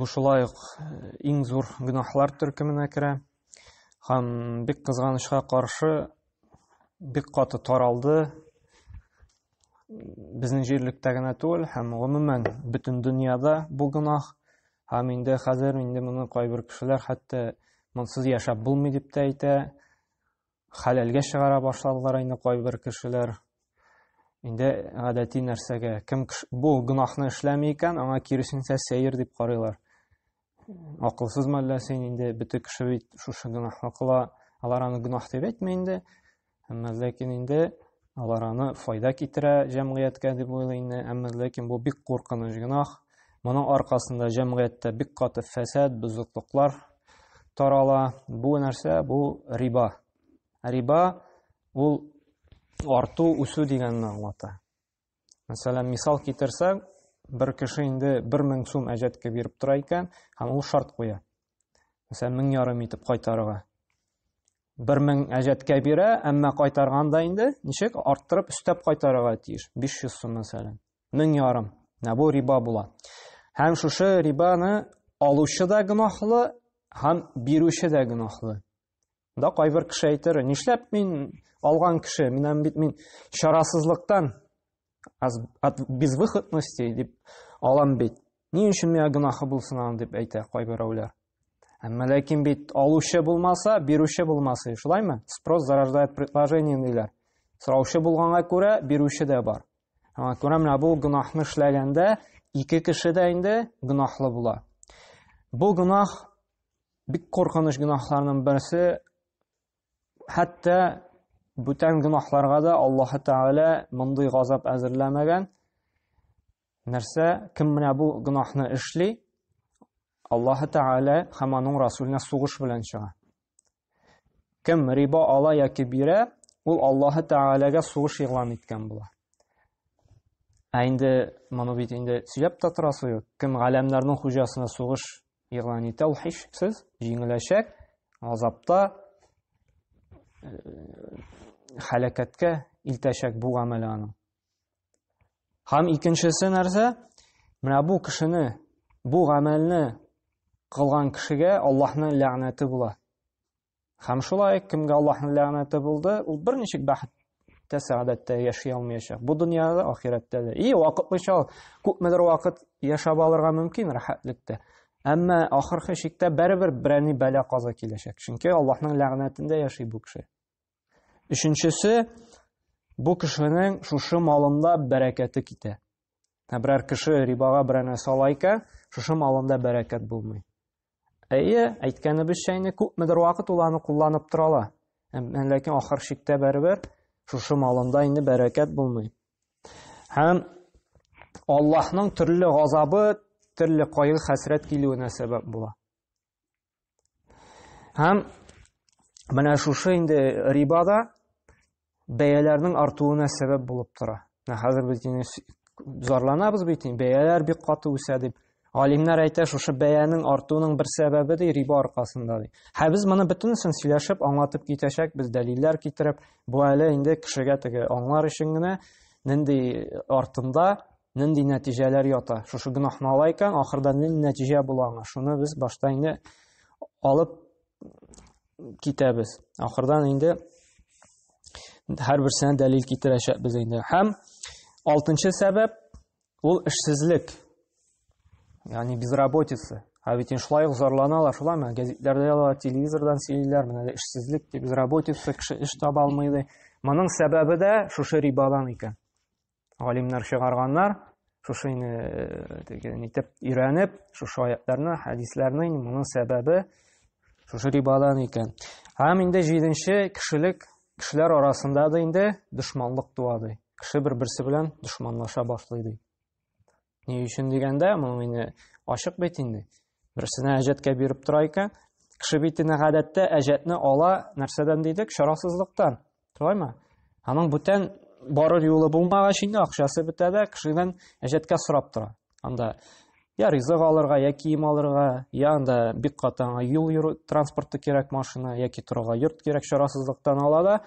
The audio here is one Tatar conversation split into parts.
Бу шулай ук иң зур гөнаһлар төркеменә керә. Һәм бик кызганычка каршы бик каты таралды. Безнең җирлектә генә түгел, һәм гомумән бөтен дөньяда бу гөнаһ. Һәм инде хәзер инде моны кайбер кешеләр хәтта монсыз яшәп булмый дип тә әйтә. Хәләлгә чыгара башладылар инде кайбер кешеләр. Инде гадәти нәрсәгә, кем бу гөнаһны эшләми икән, аңа киресенчә сәер дип карыйлар. Акылсыз мәллә син инде бөтен кеше бит шушы гөнаһны кыла, алар аны гөнаһ дип әйтми инде. Әмма ләкин инде Алар аны файда китерә җәмгыятькә дип уйлый инде, әмма ләкин бу бик куркыныч гөнаһ. Моның аркасында җәмгыятьтә бик каты фәсад, бозыклыклар тарала. Бу нәрсә? Бу риба. Риба ул арту, үсү дигәнне аңлата. Мәсәлән, мисал китерсәк, бер кеше инде 1000 сум әҗәткә биреп тора икән, һәм ул шарт куя. Мәсәлән, 1000 ярым итеп кайтарырга. 1000 әҗәткә бирә, әмма кайтарганда инде ничек арттырып өстәп кайтарырга тиеш? 500 сум мәсәлән. 1000 ярым. Менә бу риба була. Һәм шушы рибаны алучы да гөнаһлы, һәм бирүче дә гөнаһлы. Да кайбер кеше әйтер, нишләп мин алган кеше, минем бит мин чарасызлыктан от безвыходности дип алам бит. Ни өчен миңа гөнаһы булсын аны дип әйтә кайберәүләр. Әмма ләкин бит алучы булмаса, бирүче булмасы, шулаймы? Спрос зарождает предложение диләр. Сораучы булганга күрә бирүче дә бар. Аңа күрә менә бу гөнаһны эшләгәндә ике кеше дә инде гөнаһлы була. Бу гөнаһ Бик коркыныч гөнаһларның берсе хәтта бүтән гөнаһларга да Аллаһ Тәгалә мондый газап әзерләмәгән. Нәрсә, кем менә бу гөнаһны эшли, Аллаһ Тәгалә һәм аның Расулына сугыш белән чыга. Кем риба ала яки бирә, ул Аллаһ Тәгаләгә сугыш игълан иткән була. Ә инде моны бит инде сөйләп тә торасы юк. Кем галәмнәрнең хуҗасына сугыш Ягъни тәүхишсез җиңеләчәк азапта э, хәлакәткә илтәчәк бу гамәле аның. Һәм икенчесе нәрсә? Менә бу кешене, бу гамәлне кылган кешегә Аллаһның ләгънәте була. Һәм шулай кемгә Аллаһның ләгънәте булды, ул берничек бәхет тә сәгадәттә яши алмаячак. Бу дөньяда, ахирәттә дә. И вакытлыча ул күпмедер вакыт яшәп алырга мөмкин рәхәтлектә. Әмма ахыргы чиктә барыбер берәни бәла каза киләчәк. Чөнки Аллаһның ләгънәтендә яши бу кеше. Өченчесе, бу кешенең шушы малында бәрәкәте китә. Ә берәр кеше рибага берәнә сала икән, шушы малында бәрәкәт булмый. Әйе, әйткәнебезчә инде күпмедер вакыт ул аны кулланып тора ала. Ләкин ахыр чиктә бәрбер шушы малында инде бәрәкәт булмый. Һәм Аллаһның төрле газабы, төрле кайгы хәсрәт килүенә сәбәп була. Һәм менә шушы инде рибада бәяләрнең артуына сәбәп булып тора. Менә хәзер без инде зарланабыз бит, бәяләр бик каты үсә дип. Алимнар әйтә, шушы бәянең артуының бер сәбәбе ди риба аркасында ди. Һә без моны бөтенесен сөйләшеп, аңлатып китәчәк, без дәлилләр китереп, бу әле инде кешегә теге аңлар өчен генә нинди артында нинди нәтиҗәләр ята шушы гөнаһны ала икән ахырда нинди нәтиҗә була аңа шуны без башта инде алып китәбез ахырдан инде һәрберсенә дәлил китерәчәкбез инде һәм алтынчы сәбәп ул эшсезлек яғни безработица ә бит шулай ук зарланалар шулай ма гәзитләрдә язалар телевизордан сөйлиләр менә эшсезлек дип безработица кеше эш таба алмый ди моның сәбәбе дә шушы рибадан икән галимнәр чыгарганнар шушы инде э, теге нитеп өйрәнеп шушы аятларны хәдисләрне моның сәбәбе шушы рибадан икән һәм инде җиденче кешелек кешеләр арасында да инде дошманлык туа ди кеше бер берсе белән дошманлаша башлый ди Ни өчен дигәндә, моның инде ачык бит инде. Берсенә әҗәткә биреп тора икән, кеше битенә гадәттә әҗәтне ала нәрсәдән дидек, шарасызлыктан. Шулаймы? Аның бүтән барыр юлы булмагач инде акчасы бетә дә, кешедән әҗәткә сорап тора. Анда я ризык алырга, я кием алырга, я анда бик катаңа юл йөрү транспорты кирәк машина, яки торырга йорт кирәк шарасызлыктан ала да.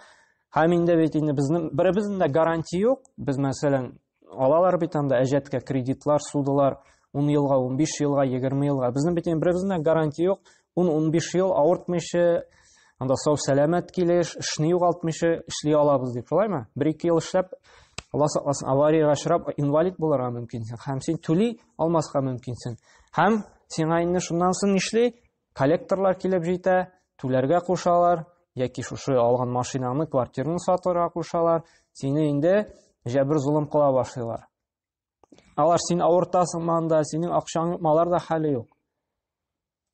Һәм инде бит инде безнең беребезнең дә гарантия юк. Без мәсәлән Алалар бит анда әҗәткә кредитлар, судылар, 10 елга, 15 елга, 20 елга. Безнең бит беребезнең дә гарантия юк. 10-15 ел авыртмыйча, анда сау сәламәт килеш, эшне югалтмыйча эшли алабыз дип, шулаймы? Бер-ике ел эшләп, Алла сакласын, авариягә очрап, инвалид булырга мөмкинсең. Һәм син түли алмаска мөмкинсең. Һәм сиңа инде шуннан соң нишли? Коллекторлар килеп җитә, түләргә кушалар, яки шушы алган машинаңны, квартираны сатырга кушалар, сине инде җәбер золым кыла башлыйлар. Алар син авыртасың манда, синең акчаң малар да хәле юк.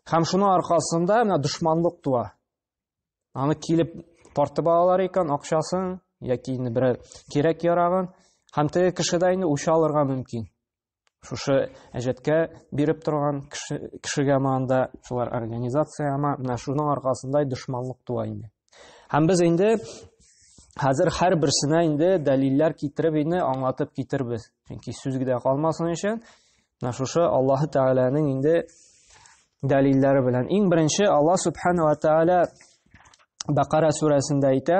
Һәм шуның аркасында менә дошманлык туа. Аны килеп тартып алалар икән акчасын яки инде берәр кирәк ярагын һәм теге кешедә инде үч алырга мөмкин. шушы әҗәткә биреп торган кеше, кешегә манда шулар организация ама менә шуның аркасында дошманлык туа инде һәм без инде хәзер һәр берсенә инде дәлилләр китереп инде аңлатып китербез чөнки сүз генә калмасын өчен менә шушы аллаһы тәгаләнең инде дәлилләре белән иң беренче алла субханала тәгалә бакара сүрәсендә әйтә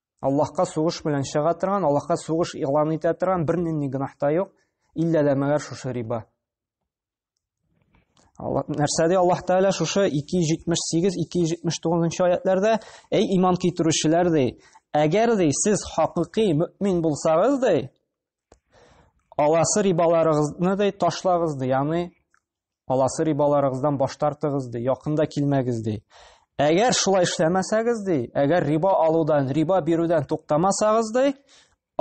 Аллаһка сугыш белән чыга торган, Аллаһка сугыш игълан итә торган бер нинди гөнаһ та юк, иллә дә мәгәр шушы риба. Нәрсә ди Аллаһ Тәгалә шушы 278, 279 аятларда, әй иман китерүчеләр ди, әгәр ди сез хакыйкый мөмин булсагыз ди, аласы рибаларыгызны ди ташлагыз ди, ягъни Аласы рибаларыгыздан баш тартыгыз ди, якында килмәгез ди. Әгәр шулай эшләмәсәгез ди, әгәр риба алудан, риба бирүдән туктамасагыз ди,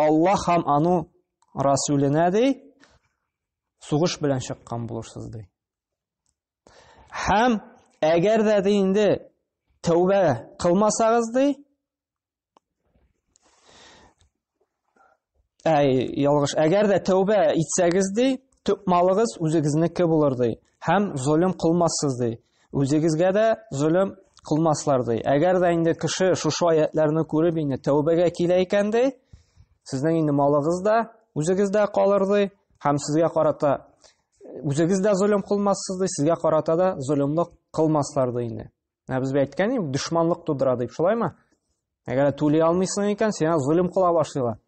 Аллаһ һәм ану Расүленә ди, сугыш белән чыккан булырсыз ди. Һәм әгәр дә ди инде тәүбә кылмасагыз ди, Әй, ялгыш. Әгәр дә тәүбә итсәгез ди, төп малыгыз үзегезнеке булыр ди. Һәм золым кылмассыз ди. Үзегезгә дә золым кылмаслар ди. Әгәр дә инде кеше шушы аятларны күреп инде тәүбәгә килә икән ди, сезнең инде малыгыз да үзегез дә калыр ди, һәм сезгә карата үзегез дә золым кылмассыз ди, сезгә карата да золымлык кылмаслар ди инде. Ә без әйткән идек, дошманлык тудыра дип, шулаймы? Әгәр түли алмыйсың икән, сиңа золим кыла башлыйлар.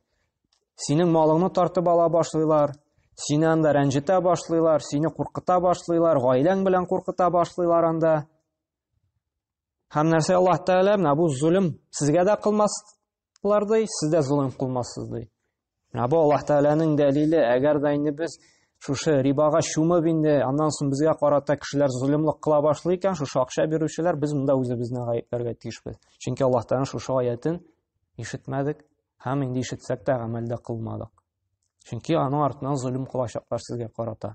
Синең малыңны тартып ала башлыйлар, сине анда рәнҗетә башлыйлар, сине куркыта башлыйлар, гаиләң белән куркыта башлыйлар анда. Һәм нәрсә Аллаһ Тәгалә менә бу золим сезгә дә кылмас, Алар ди, сез дә золым кылмассыз ди. Ә бу Аллаһ Тәгаләнең дәлиле, әгәр дә инде без шушы рибага чумып инде, аннан соң безгә карата кешеләр золымлык кыла башлый икән, шушы акча бирүчеләр, без монда үзебезне гаепләргә тиешбез. Чөнки Аллаһ Тәгаләнең шушы аятен ишетмәдек һәм инде ишетсәк тә гамәлдә кылмадык. Чөнки аның артыннан золым кылачаклар сезгә карата.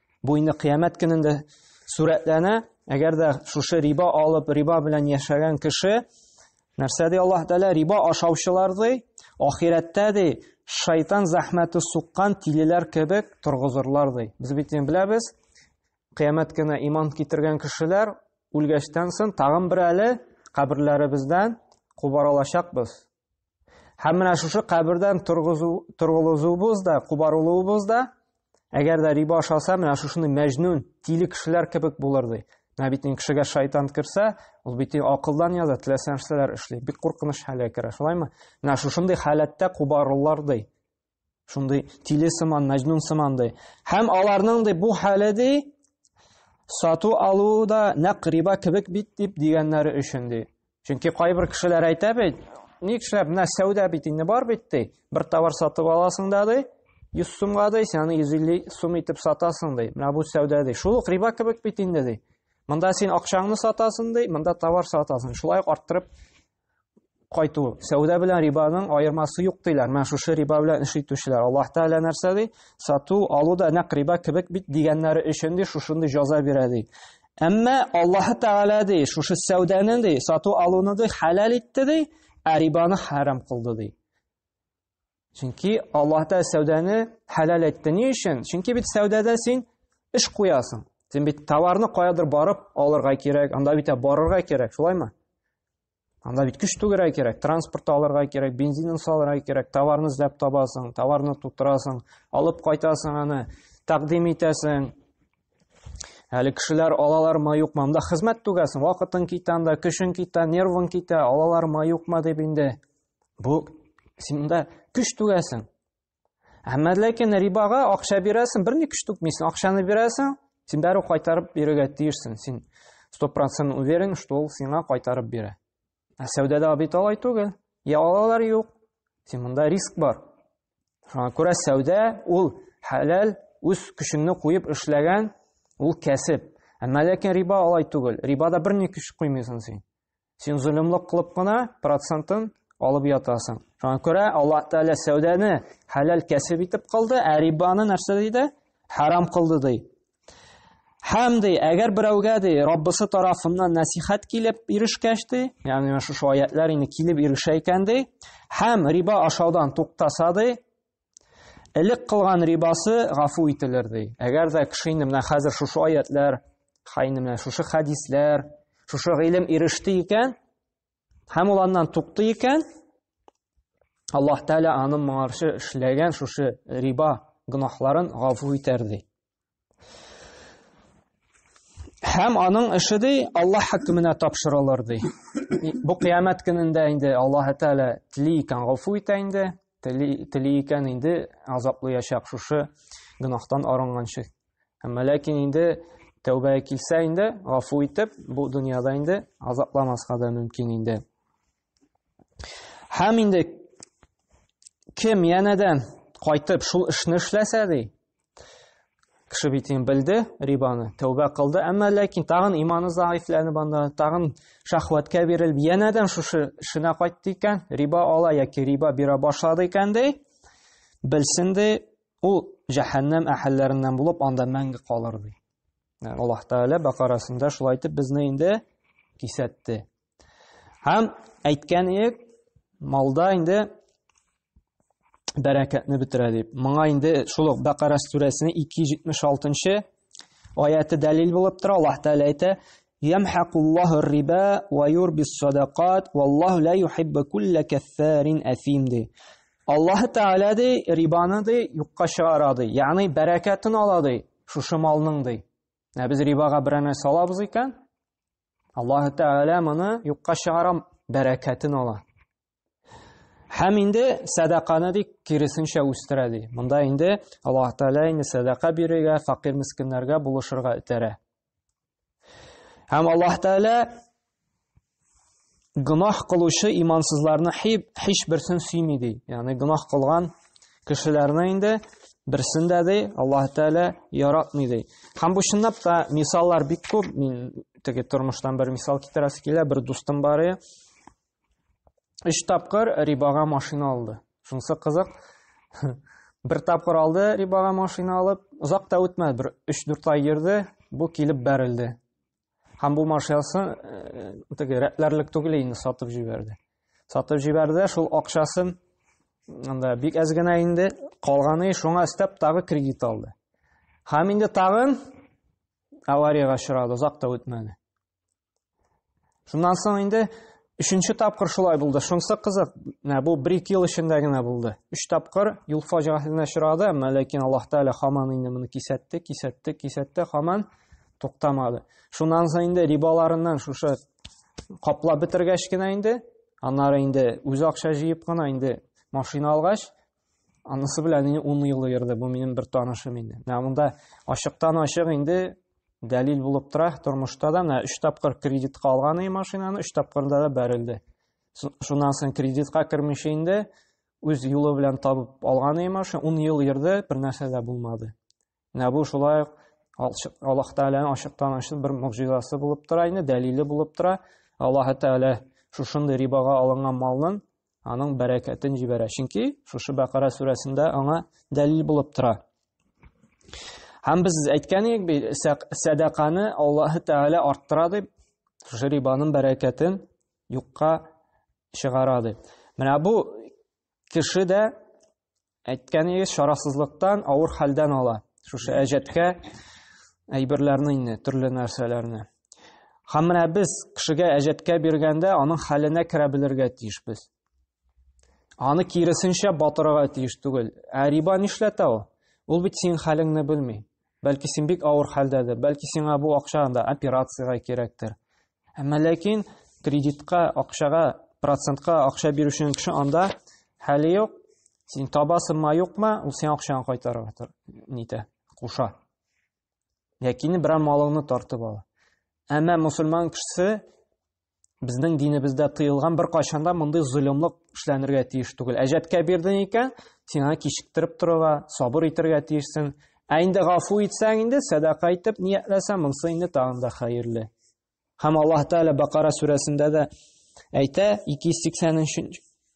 Бу инде кыямәт көнендә сурәтләнә. Әгәр дә шушы риба алып, риба белән яшәгән кеше нәрсә ди Аллаһ Тәгалә риба ашаучылар ди, ахирәттә ди, шайтан зәхмәте суккан тилеләр кебек торгызырлар ди. Без бит беләбез, кыямәт көне иман китергән кешеләр үлгәчтән соң тагын бер әле каберләребездән кубаралачакбыз. Һәм менә шушы кабердән торгызуыбыз да, кубарылуыбыз да, әгәр дә риба ашаса, менә шушыны мәҗнүн, тиле кешеләр кебек булыр ди. Менә бит инде кешегә шайтан керсә, ул бит акылдан яза, теләсә нәрсәләр эшли. Бик куркыныч хәлгә керә, шулаймы? Менә шушындый халәттә кубарылар ди. Шундый тиле сыман, мәҗнун сыман ди. Һәм аларның ди бу хәле ди сату алу да нәкъ риба кебек бит дип дигәннәре өчен ди. Чөнки кайбер кешеләр әйтә бит, ник эшләп, менә сәүдә бит инде бар бит ди. Бер товар сатып аласың да ди, 100 сумга ди, син аны 150 сум итеп сатасың ди. Менә бу сәүдә ди. Шул ук риба кебек бит инде ди. Монда син акчаңны сатасың ди, монда товар сатасың. Шулай ук арттырып кайту. Сәүдә белән рибаның аермасы юк диләр. Менә шушы риба белән эш итүчеләр. Аллаһ Тәгалә нәрсә ди? Сату, алу да нәкъ риба кебек бит дигәннәре өчен ди шушындый җаза бирә ди. Әмма Аллаһ Тәгалә ди, шушы сәүдәне ди, сату алуны ди халал итте ди, ә рибаны харам кылды ди. Чөнки Аллаһ Тәгалә сәүдәне хәләл әйтте. Ни өчен? Чөнки бит сәүдәдә син эш куясың. Син бит товарны каядыр барып алырга кирәк, анда бит барырга кирәк, шулаймы? Анда бит көч түгәргә кирәк, транспорт алырга кирәк, бензинын салырга кирәк, товарны эзләп табасың, товарны тутырасың, алып кайтасың аны, тәкъдим итәсең. Әле кешеләр алалармы, юкмы, монда хезмәт түгәсең, вакытың китә анда, көчең китә, нервың китә, алалармы, юкмы дип инде Бу син монда көч түгәсең. Әмма ләкин рибага акча бирәсең, берни көч түкмисең, акчаны бирәсең, син бәрү кайтарып бирергә тиешсең. Син 100% уверен, что ул сиңа кайтарып бирә. Ә сәүдәдә бит алай түгел. Я алалар юк. Син монда риск бар. Шуңа күрә сәүдә ул хәләл, үз көчеңне куеп эшләгән ул кәсеп. Әмма ләкин риба алай түгел. Рибада берни көч куймыйсың син. Син золымлык кылып кына процентын алып ятасың. Шуңа күрә Аллаһ Тәгалә сәүдәне хәләл кәсеп итеп кылды, ә рибаны нәрсә диде? Харам кылды ди. Һәм ди, әгәр берәүгә ди, Раббысы тарафыннан нәсихәт килеп ирешкәч ди, ягъни менә шушы аятлар инде килеп ирешә икән ди, һәм риба ашаудан туктаса ди, Элек кылган рибасы гафу ителер ди. Әгәр дә кеше инде менә хәзер шушы аятлар, хайны менә шушы хәдисләр, шушы гыйлем иреште икән, һәм ул аннан тукты икән, Аллаһ Тәгалә аның моңарчы эшләгән шушы риба гөнаһларын гафу итәр ди. Һәм аның эше ди Аллаһ хөкеменә тапшырылыр ди. Бу кыямәт көнендә инде Аллаһ Тәгалә тли икән гафу итә инде, тли икән инде азаплыячак шушы гөнаһтан арынганчы. Әмма ләкин инде тәүбә килсә инде гафу итеп, бу дөньяда инде азапламаска да мөмкин инде. Һәм инде кем янәдән кайтып шул эшне эшләсә ди, кеше бит инде белде рибаны, тәүбә кылды, әмма ләкин тагын иманы заифләнеп анда, тагын шахваткә бирелеп, янәдән шушы эшенә кайтты икән, риба ала яки риба бирә башлады икән ди, белсен ди, ул җәһәннәм әһелләреннән булып анда мәңге калыр ди. Аллаһ Тәгалә Бакарасында шулай итеп безне инде кисәтте. Һәм әйткән идек, малда инде бәрәкәтне бетерә дип. Моңа инде шул ук Бәкара сүрәсенең 276-нчы аяты дәлил булып тора. Аллаһ Тәгалә әйтә: "Ямхакуллаһу риба ва юрбис садакат, валлаһу ла юхиббу кулла каффарин афим" ди. Аллаһ Тәгалә ди, рибаны ди, юкка чыгара ди. Ягъни бәрәкәтен ала ди, шушы малның ди. Ә без рибага берәр нәрсә алабыз икән, Аллаһ Тәгалә моны юкка чыгарам, бәрәкәтен ала. Һәм инде сәдаканы ди киресенчә үстерә ди. Монда инде Аллаһ Тәгалә инде сәдака бирергә, факир мискиннәргә булышырга этәрә. Һәм Аллаһ Тәгалә гөнаһ кылучы имансызларны һич берсен сөйми ди. Ягъни гөнаһ кылган кешеләрне инде берсен дә ди Аллаһ Тәгалә яратмый ди. Һәм бу чынлап та мисаллар бик күп. Мин теге тормыштан бер мисал китерәсе килә, бер дустым бар иде. Өч тапкыр рибага машина алды. Шунысы кызык. Бер тапкыр алды рибага машина алып, озак та үтмәде, бер 3-4 ай йөрде, бу килеп бәрелде. Һәм бу машинасы теге рәтләрлек түгел инде сатып җибәрде. Сатып җибәрде, шул акчасын анда бик әз генә инде калганы шуңа өстәп тагы кредит алды. Һәм инде тагын авариягә очрады, озак та үтмәде. Шуннан соң инде өченче тапкыр шулай булды. Шунысы кызык, менә бу бер ике ел эчендә генә булды. Өч тапкыр юл фаҗигасенә очрады, әмма ләкин Аллаһ Тәгалә хаман инде моны кисәтте, кисәтте, кисәтте, хаман туктамады. Шуннан соң инде рибаларыннан шушы каплап бетергәч кенә инде, аннары инде үз акча җыеп кына инде машина алгач, анысы белән инде 10 ел йөрде бу минем бер танышым инде. Менә монда ачыктан ачык инде дәлил булып тора тормышта да менә 3 тапкыр кредитка алган и машинаны, 3 тапкырда да бәрелде. Шуннан соң кредитка кермичә инде үз юлы белән табып алган и машина 10 ел йөрде, бер нәрсә дә булмады. Менә бу шулай ук Аллаһ Тәгаләнең ачыктан ачык бер могҗизасы булып тора инде, дәлиле булып тора. Аллаһ Тәгалә шушындый рибага алынган малның аның бәрәкәтен җибәрә. Чөнки шушы Бәкара сүрәсендә аңа дәлил булып тора. Һәм без әйткән идек бит, сәдаканы Аллаһ Тәгалә арттыра дип, шушы рибаның бәрәкәтен юкка чыгара дип. Менә бу кеше дә Әйткәнегез чарасызлыктан, авыр хәлдән ала. Шушы әҗәткә әйберләрне инде, төрле нәрсәләрне. Һәм менә без кешегә әҗәткә биргәндә, аның хәленә керә белергә тиеш без. Аны киресенчә батырырга тиеш түгел. Ә риба нишләтә ул? Ул бит синең хәлеңне белми. Бәлки син бик авыр хәлдәдер, бәлки сиңа бу акча анда операциягә кирәктер. Әмма ләкин кредитка, акчага, процентка акча бирүченең кеше анда хәле юк, син табасыңмы, юкмы, ул сиңа акчаны кайтарырга тор, нитә, куша. Ләкин берәр малыңны тартып ала. Әмма мусульман кешесе Безнең динебездә тыелган бер кайчан да мондый золымлык эшләнергә тиеш түгел. Әҗәткә бирдең икән, син аны кичектереп торырга, сабыр итәргә тиешсең. Ә инде гафу итсәң инде, сәдака итеп ниятләсәң, монысы инде тагын да хәерле. Һәм Аллаһ Тәгалә Бакара сүрәсендә дә әйтә, 280-нче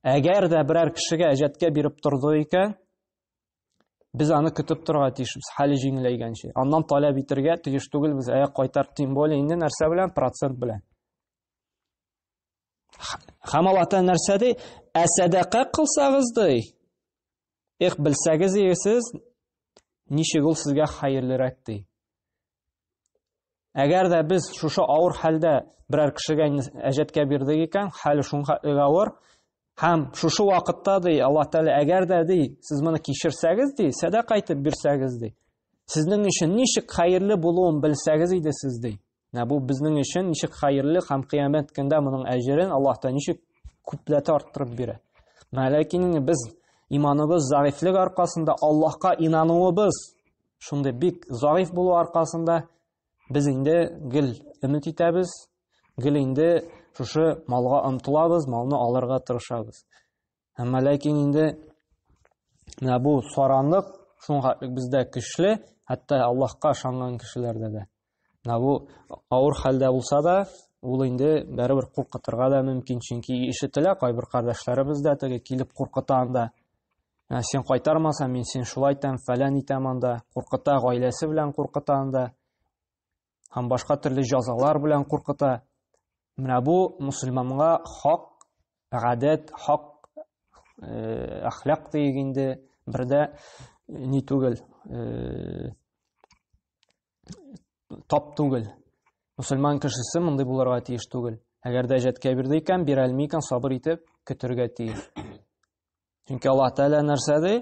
Әгәр дә берәр кешегә әҗәткә биреп торды икән, без аны көтеп торга тиешбез, хәле җиңеләйгәнче. Аннан таләп итәргә тиеш түгелбез, ә кайтар, тем более инде нәрсә белән, процент белән. Хәм Аллаһ Тәгалә нәрсә ди? Ә сәдака кылсагыз ди. Их, белсәгез егесез, ничек ул сезгә хәерлерәк ди. Әгәр дә без шушы авыр хәлдә берәр кешегә әҗәткә бирдек икән, хәле шуңа авыр, һәм шушы вакытта ди Алла Тәгалә, әгәр дә ди сез моны кичерсәгез ди, сәдака итеп бирсәгез ди, сезнең өчен ничек хәерле булуын белсәгез иде сез ди. Менә бу безнең өчен ничек хәерле һәм кыямәт көндә моның әҗерен Аллаһ Тәгалә ничек күпләтә арттырып бирә. Ләкин без иманыбыз зәгыйфлек аркасында Аллаһка инануыбыз Шундый бик зариф булу аркасында без инде гел өмет итәбез, гел инде шушы малга омтылабыз, малны алырга тырышабыз. Әмма ләкин инде менә бу саранлык шуңа бездә көчле, хәтта Аллаһка ышанган кешеләрдә дә. Менә бу авыр хәлдә булса да, ул инде бәрәбәр куркытырга да мөмкин, чөнки ишетелә кайбер кардәшләребез дә теге килеп куркыта анда. Ә син кайтармасаң, мин син шулай итәм, фәлән итәм анда, куркыта, гаиләсе белән куркыта анда. Һәм башка төрле җазалар белән куркыта. Менә бу мусульманга хак гадәт, хак э, әхлак диек инде, бердә ни түгел, э, тап түгел. Мусульман кешесе мондый булырга тиеш түгел. Әгәр дә җәткә бирде икән, бирә алмый икән, сабыр итеп көтергә тиеш. Чөнки Аллаһ Тәгалә нәрсә ди?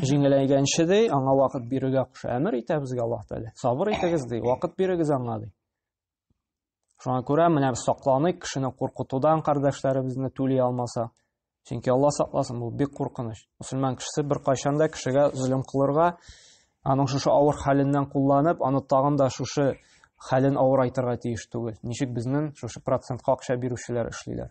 Җиңеләйгәнче ди, аңа вакыт бирергә куша. Әмер итә безгә Аллаһ Тәгалә. Сабыр итегез ди, вакыт бирегез аңа ди. Шуңа күрә менә без сакланыйк кешене куркытудан кардәшләребезне түли алмаса. Чөнки Алла сакласын, бу бик куркыныч. Мусульман кешесе бер кайчан да кешегә зөлем кылырга, аның шушы авыр хәленнән кулланып, аны тагын да шушы хәлен авырайтырга тиеш түгел. Ничек безнең шушы процентка акча бирүчеләр эшлиләр.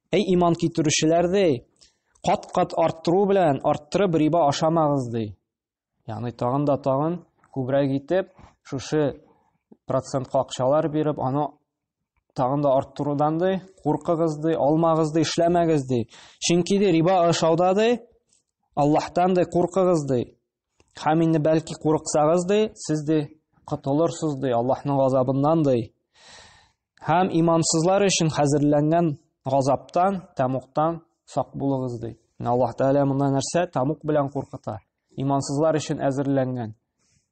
Әй иман китерүчеләр ди, кат-кат арттыру белән арттырып риба ашамагыз ди. Ягъни тагын да тагын күбрәк итеп шушы процент какчалар биреп, аны тагын да арттырудан ди, куркыгыз ди, алмагыз ди, эшләмәгез ди. Чөнки ди риба ашауда ди, Аллаһтан ди куркыгыз ди. Хәм инде бәлки курыксагыз ди, сез ди котылырсыз ди Аллаһның газабыннан ди. Хәм имансызлар өчен хәзерләнгән газаптан, тамуктан сак булыгыз ди. Аллаһ Тәгалә монда нәрсә? Тамук белән куркыта. Имансызлар өчен әзерләнгән.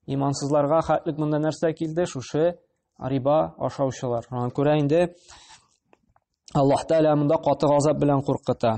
Имансызларга хәтлек монда нәрсә килде? Шушы риба ашаучылар. Шуңа күрә инде Аллаһ Тәгалә монда каты газап белән куркыта.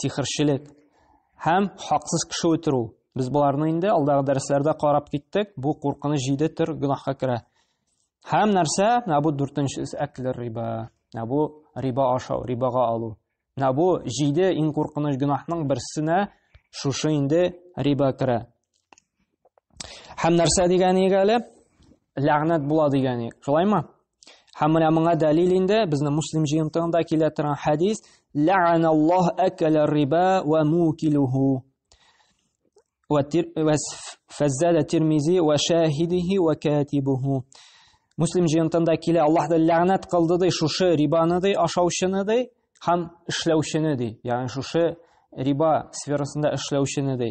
сихерчелек һәм хаксыз кеше үтерү. Без боларны инде алдагы дәресләрдә карап киттек. Бу куркыныч җиде төр гөнаһка керә. Һәм нәрсә? Менә бу дүртенчесе әклер риба. Менә бу риба ашау, рибага алу. Менә бу җиде иң куркыныч гөнаһның берсенә шушы инде риба керә. Һәм нәрсә дигәне әле? Ләгънәт була дигәне. Шулаймы? Һәм менә моңа дәлил инде безнең муслим җыентыгында килә торган хәдис: "Лә'аналлаһ акала риба ва мукилуху" ва фаззала Тирмизи ва шахидихи ва катибуху. Муслим җыентында килә Аллаһ да ләгънәт кылды ди шушы рибаны ди ашаучыны ди һәм эшләүчене ди. Ягъни шушы риба сферасында эшләүчене ди.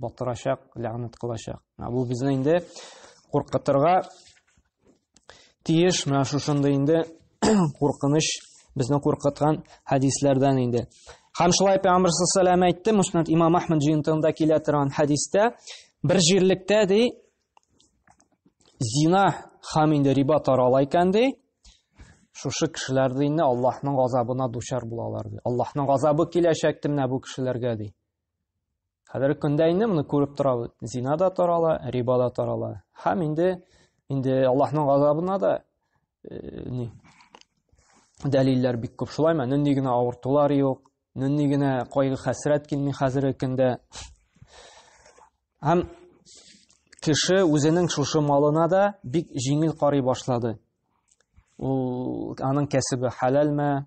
Батырачак, ләгънәт кылачак. Бу безне инде куркытырга тиеш, менә шушындый инде куркыныч безне куркыткан хәдисләрдән инде. Һәм шулай Пәйгамбер саллаллаху алейһи әйтте, Муснад Имам Ахмад җыентыгында килә торган хәдистә, бер җирлектә ди зина һәм инде риба тарала икән ди, шушы кешеләр динне Аллаһның газабына дучар булалар ди. Аллаһның газабы киләчәк тимнә бу кешеләргә ди. Хәзерге көндә инде моны күреп торабыз. Зина да тарала, риба да тарала. Һәм инде инде Аллаһның газабына да э, ни дәлилләр бик күп. Шулаймы? Нинди генә авыртулар юк, нинди генә кайгы хәсрәт килми хәзерге көндә. Һәм кеше үзенең шушы малына да бик җиңел карый башлады. Ул аның кәсебе хәләлме,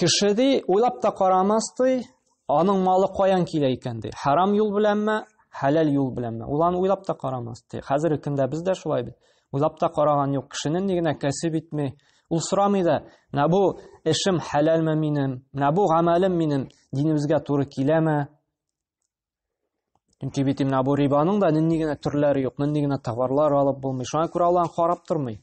Кеше ди, уйлап та карамас ди, аның малы каян килә икән ди. Харам юл беләнме, хәләл юл беләнме? Ул аны уйлап та карамас ди. Хәзерге көндә без дә шулай бит. Уйлап та караган юк. Кешенең ни генә кәсеп итми, ул сорамый да, менә бу эшем хәләлме минем, менә бу гамәлем минем динебезгә туры киләме? Чөнки бит менә бу рибаның да нинди генә төрләре юк, нинди генә товарлар алып булмый. Шуңа күрә алланы карап тормый.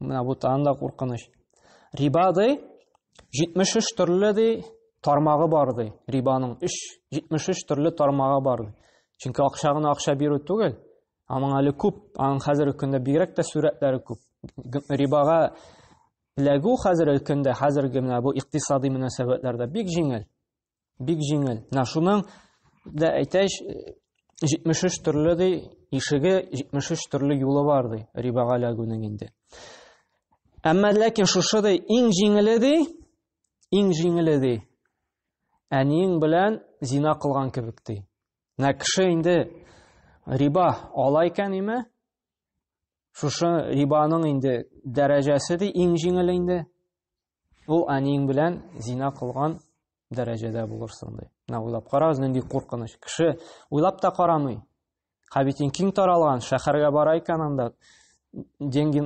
Менә бу тагын да куркыныч. Риба ди 73 төрле ди тармагы бар ди. Рибаның 3 73 төрле тармагы бар ди. Чөнки акча гына акча бирү түгел. Аның әле күп, аның хәзерге көндә бигрәк тә сурәтләре күп. Рибага эләгү хәзерге көндә, хәзерге менә бу икътисади мөнәсәбәтләрдә бик җиңел. Бик җиңел. Менә шуның да әйтәч, 73 төрле ди, ишеге 73 төрле юлы бар ди, рибага эләгүнең инде. Әмма ләкин шушы ди, иң җиңеле ди, иң җиңеле ди. Әниең белән зина кылган кебек ди. Менә кеше инде риба ала икән име? Шушы рибаның инде дәрәҗәсе ди, иң җиңеле инде. Ул әниең белән зина кылган дәрәҗәдә булырсың ди. Менә уйлап карагыз, нинди куркыныч. Кеше уйлап та карамый. Хәбитин киң таралган, шәһәргә бара икән анда деньги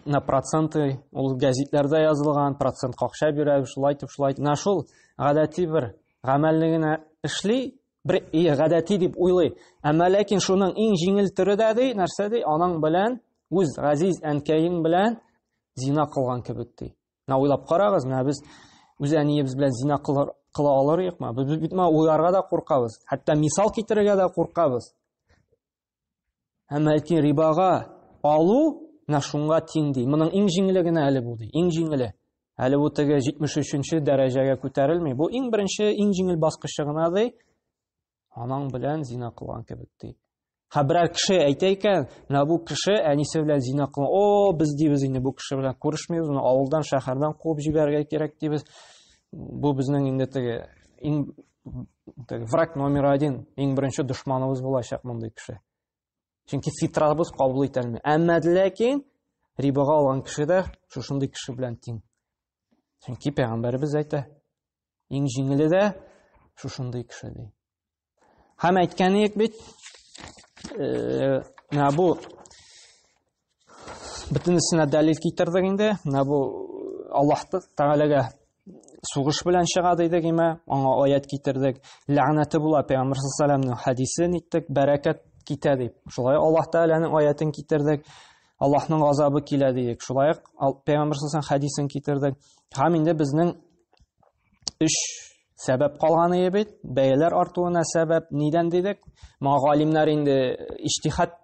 на проценты, ул гәзитләрдә язылган, процент какша бирә, шулай итеп, шулай итеп. Менә шул гадәти бер гамәлне генә эшли, бер и гадәти дип уйлый. Әмма ләкин шуның иң җиңел төре дә ди, нәрсә ди, аның белән үз газиз әнкәең белән зина кылган кебек ди. Менә уйлап карагыз, менә без үз әниебез белән зина кылар, кыла алыр юкмы? Без бит менә уйларга да куркабыз, хәтта мисал китерергә дә куркабыз. Һәм әйтин рибага алу менә шуңа тиң ди. Моның иң җиңеле генә әле бу ди, иң җиңеле. Әле бу теге 73-нче дәрәҗәгә күтәрелми. Бу иң беренче, иң җиңел баскычы гына ди. анаң белән зина кылган кебек ди һә берәр кеше әйтә икән менә бу кеше әнисе белән зина кылган о без дибез инде бу кеше белән күрешмибез моны авылдан шәһәрдән куып җибәрергә кирәк дибез бу безнең инде теге иң теге враг номер один иң беренче дошманыбыз булачак мондый кеше чөнки фитрабыз кабул итә алмый әмма ләкин рибага алган кеше дә шушындый кеше белән тиң чөнки пәйгамбәребез әйтә Иң җиңеле дә шушындый кеше ди. Һәм әйткән идек бит, э, менә бу бөтенесенә дәлил китердек инде. Менә бу Аллаһ Тәгаләгә сугыш белән чыга дидек имә, аңа аят китердек. Ләгънәте була Пәйгамбер саллаллаһу хәдисен иттек, бәрәкәт китә дип. Шулай Аллаһ Тәгаләнең аятын китердек. Аллаһның газабы килә дидек. Шулай ук Пәйгамбер саллаллаһу хәдисен китердек. Һәм инде безнең Өч сәбәп калган ие бит. Бәяләр артуына сәбәп нидән дидек? Моңа галимнәр инде иҗтихад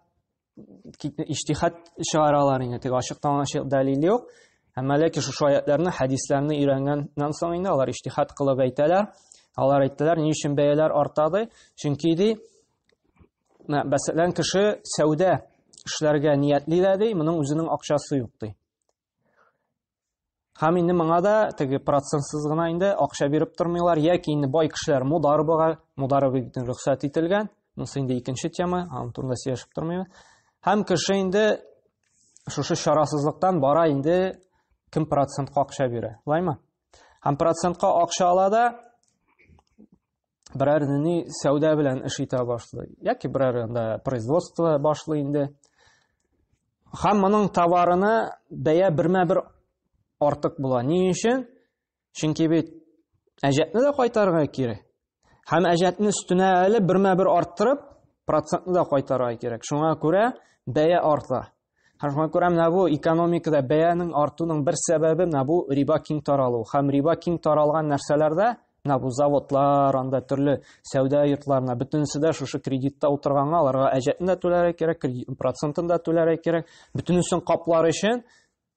иҗтихад чыгаралар инде. Тик ачыктан ачык дәлил юк. Әмма ләкин шушы аятларны, хәдисләрне өйрәнгәннән соң инде алар иҗтихад кылып әйтәләр. Алар әйттеләр, ни өчен бәяләр артады? Чөнки ди, мәсәлән, кеше сәүдә эшләргә ниятли дә ди, моның үзенең акчасы юк ди. Һәм инде моңа да теге процентсыз гына инде акча биреп тормыйлар, яки инде бай кешеләр мударбага, мударбы бит рөхсәт ителгән. Монысы инде икенче тема, аның турында сөйләшеп тормыйбыз. Һәм кеше инде шушы чарасызлыктан бара инде кем процентка акча бирә. Лайма. Һәм процентка акча ала да берәр ни сәүдә белән эш итә башлый яки берәр анда производство башлый инде һәм моның товарына бәя бермә бер артык була ни өчен чөнки бит әҗәтне дә кайтарырга кирәк һәм әҗәтне өстенә әле бермә бер арттырып процентны да кайтарырга кирәк шуңа күрә бәя арта Һәм шуңа күрә менә бу экономикада бәянең артуның бер сәбәбе менә бу риба киң таралу. Һәм риба киң таралган нәрсәләрдә менә бу заводлар, анда төрле сәүдә йортларына бөтенесе дә шушы кредитта утырганга аларга әҗәтен дә түләргә кирәк, кредит процентын да түләргә кирәк. Бөтенесен каплар өчен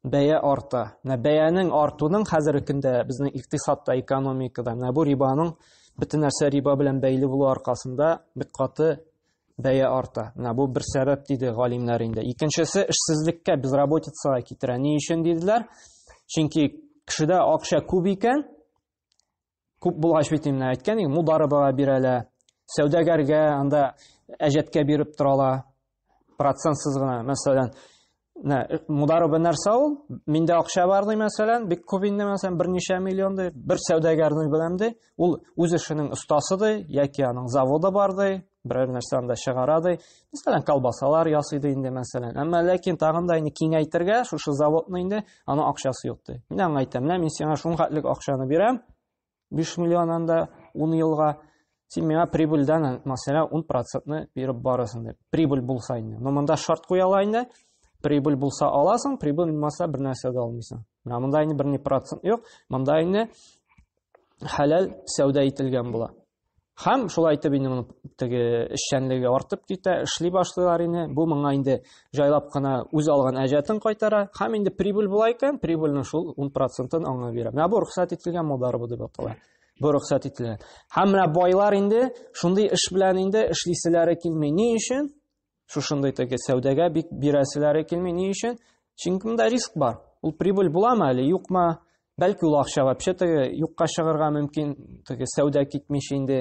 бәя арта. Менә бәянең артуның хәзерге көндә безнең икътисадта, экономикада менә бу рибаның бөтен нәрсә риба белән бәйле булу аркасында бик каты бәя арта. Менә бу бер сәбәп диде галимнәр инде. Икенчесе эшсезлеккә, безработицага китерә. Ни өчен диделәр? Чөнки кешедә акча күп икән, күп булгач бит инде әйткән идем, мударыбага бирәләр. Сәүдәгәргә анда әҗәткә биреп торалар. Процентсыз гына, мәсәлән, Нә, э, мудару бер нәрсә ул, миндә акча бар ди, мәсәлән, бик күп инде, мәсәлән, берничә миллион ди, бер сәүдәгәрнең беләм ди, ул үз эшенең остасы ди, яки аның заводы бар ди, берәр нәрсә анда чыгара ди, мәсәлән, колбасалар ясый ди инде, мәсәлән. Әмма ләкин тагын да инде киңәйтергә, шушы заводны инде аны акчасы юк ди. Мин аңа әйтәм, менә мин сиңа шул хәтлек акчаны бирәм, 5 миллион анда 10 елга син миңа прибыльдән мәсәлән 10 процентны биреп барасың дип прибыль булса инде но монда шарт куя ала инде прибыль булса аласың прибыль булмаса бер нәрсә дә алмыйсың менә монда инде берни процент юк монда инде хәләл сәүдә ителгән була Һәм шулай итеп инде моның теге эшчәнлеге артып китә, эшли башлыйлар инде. Бу моңа инде җайлап кына үз алган әҗәтен кайтара. Һәм инде прибыль була икән, прибыльнең шул 10%-ын аңа бирә. Менә бу рөхсәт ителгән модарба дип атала. Бу рөхсәт ителгән. Һәм менә байлар инде шундый эш белән инде эшлиселәре килми. Ни өчен? Шушындый теге сәүдәгә бик бирәселәре килми. Ни өчен? Чөнки монда риск бар. Ул прибыль буламы әле, юкмы? Бәлки ул акча вообще теге юкка чыгарга мөмкин, теге сәүдә китмичә инде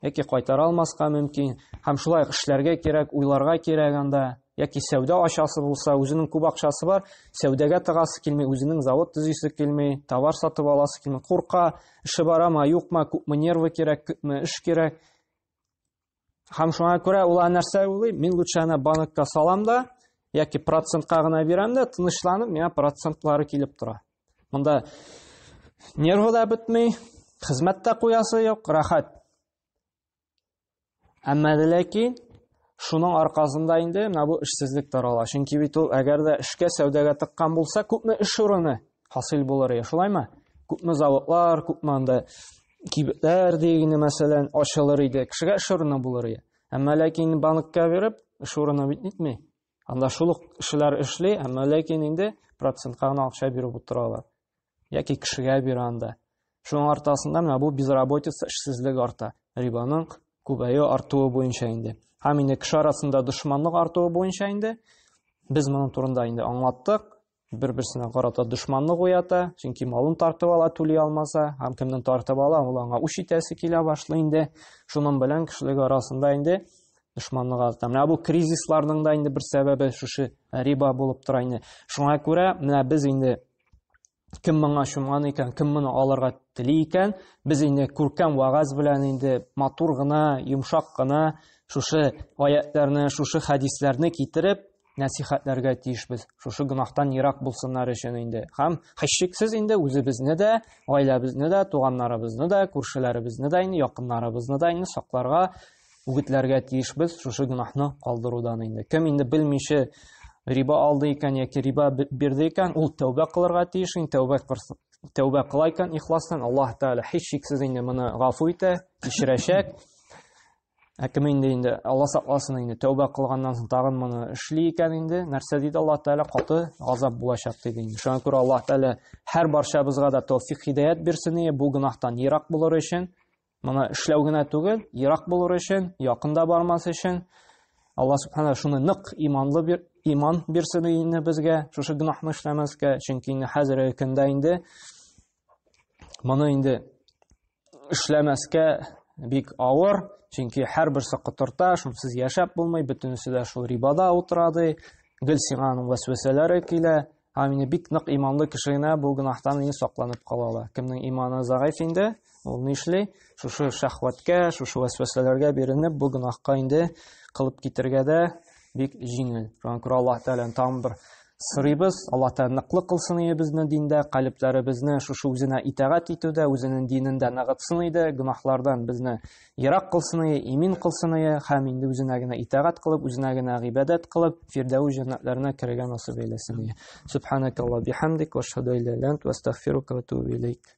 яки кайтара алмаска мөмкин. Һәм шулай эшләргә кирәк, уйларга кирәк анда. Яки сәүдә ачасы булса, үзенең күп акчасы бар, сәүдәгә тыгасы килми, үзенең завод төзисе килми, товар сатып аласы килми, курка, эше барамы, юкмы, күпме нервы кирәк, күпме эш кирәк. Һәм шуңа күрә ул нәрсә уйлый, мин лучше ана банкка салам да, яки процентка гына бирәм дә, тынычланып, миңа процентлары килеп тора. Монда нервы да бетми, хезмәт тә куясы юк, рәхәт. Әмма ләкин шуның аркасында инде менә бу эшсезлек тарала. Чөнки бит ул әгәр дә эшкә сәүдәгә тыккан булса, күпме эш урыны хасил булыр ия, шулаймы? Күпме заводлар, күпме анда кибетләр дигене мәсәлән ачылыр иде кешегә эш урыны булыр иде әмма ләкин банкка биреп эш урыны бит нитми анда шул ук кешеләр эшли әмма ләкин инде процентка гына акча биреп утыралар яки кешегә бирә анда шуның артасында менә бу безработица эшсезлек арта рибаның күбәю артуы буенча инде һәм инде кеше арасында дошманлык артуы буенча инде без моның турында инде аңлаттык бер-берсенә карата дошманлык уята, чөнки малын тартып ала, түли алмаса, һәм кемнен тартып ала, ул аңа үч итәсе килә башлый инде. Шуның белән кешелек арасында инде дошманлык арта. Менә бу кризисларның да инде бер сәбәбе шушы риба булып тора инде. Шуңа күрә менә без инде кем моңа чумган икән, кем моны алырга тели икән, без инде күркәм вагаз белән инде матур гына, йомшак кына шушы аятларны, шушы хәдисләрне китереп, нәсихәтләргә тиешбез. Шушы гөнаһтан ерак булсыннар өчен инде. Һәм хәшшиксез инде үзебезне дә, гаиләбезне дә, туганнарыбызны да, күршеләребезне дә, инде якыннарыбызны да инде сакларга, үгетләргә тиешбез шушы гөнаһны калдырудан инде. Кем инде белмичә риба алды икән яки риба бирде икән, ул тәүбә кылырга тиеш, инде тәүбә тәүбә кыла икән ихластан, Аллаһ Тәгалә һичшиксез инде моны гафу итә, кичерәчәк. Ә кем инде инде Алла сакласын инде тәүбә кылганнан соң тагын моны эшли икән инде, нәрсә диде Аллаһ Тәгалә каты газап булачак диде инде. Шуңа күрә Аллаһ Тәгалә һәр барчабызга да тәүфик хидаят бирсен ие, бу гөнаһтан ерак булыр өчен, моны эшләү генә түгел, ерак булыр өчен, якында бармас өчен. Алла Субхана шуны нык иманлы бир, иман бирсен инде безгә, шушы гөнаһны эшләмәскә, чөнки инде хәзерге көндә инде Моны инде эшләмәскә бик авыр, чөнки һәрбер сакытырта, шунсыз яшәп булмый, бөтенесе дә шул рибада утыра ди. Гел сиңа аның вәсвәсәләре килә. Һәм инде бик нык иманлы кеше генә бу гөнаһтан инде сакланып кала ала. Кемнең иманы загаф инде, ул ни эшли? Шушы шәхвәткә, шушы вәсвәсәләргә биренеп, бу гөнаһка инде кылып китергә дә бик җиңел. Шуңа күрә Аллаһ Тәгаләне тагын бер сорыйбыз. Аллаһ Тәгалә ныклы кылсын иебезне диндә, калебләребезне шушы үзенә итагать итүдә, үзенең динендә ныгытсын иде, гөнаһлардан безне ерак кылсын ие, имин кылсын ие, һәм инде үзенә генә итагать кылып, үзенә генә гыйбадәт кылып, фирдәү җәннәтләренә керергә насыйп әйләсен ие. Субханакалла бихамдик ва шһаду илля ва астагфирука ва тубу илейк.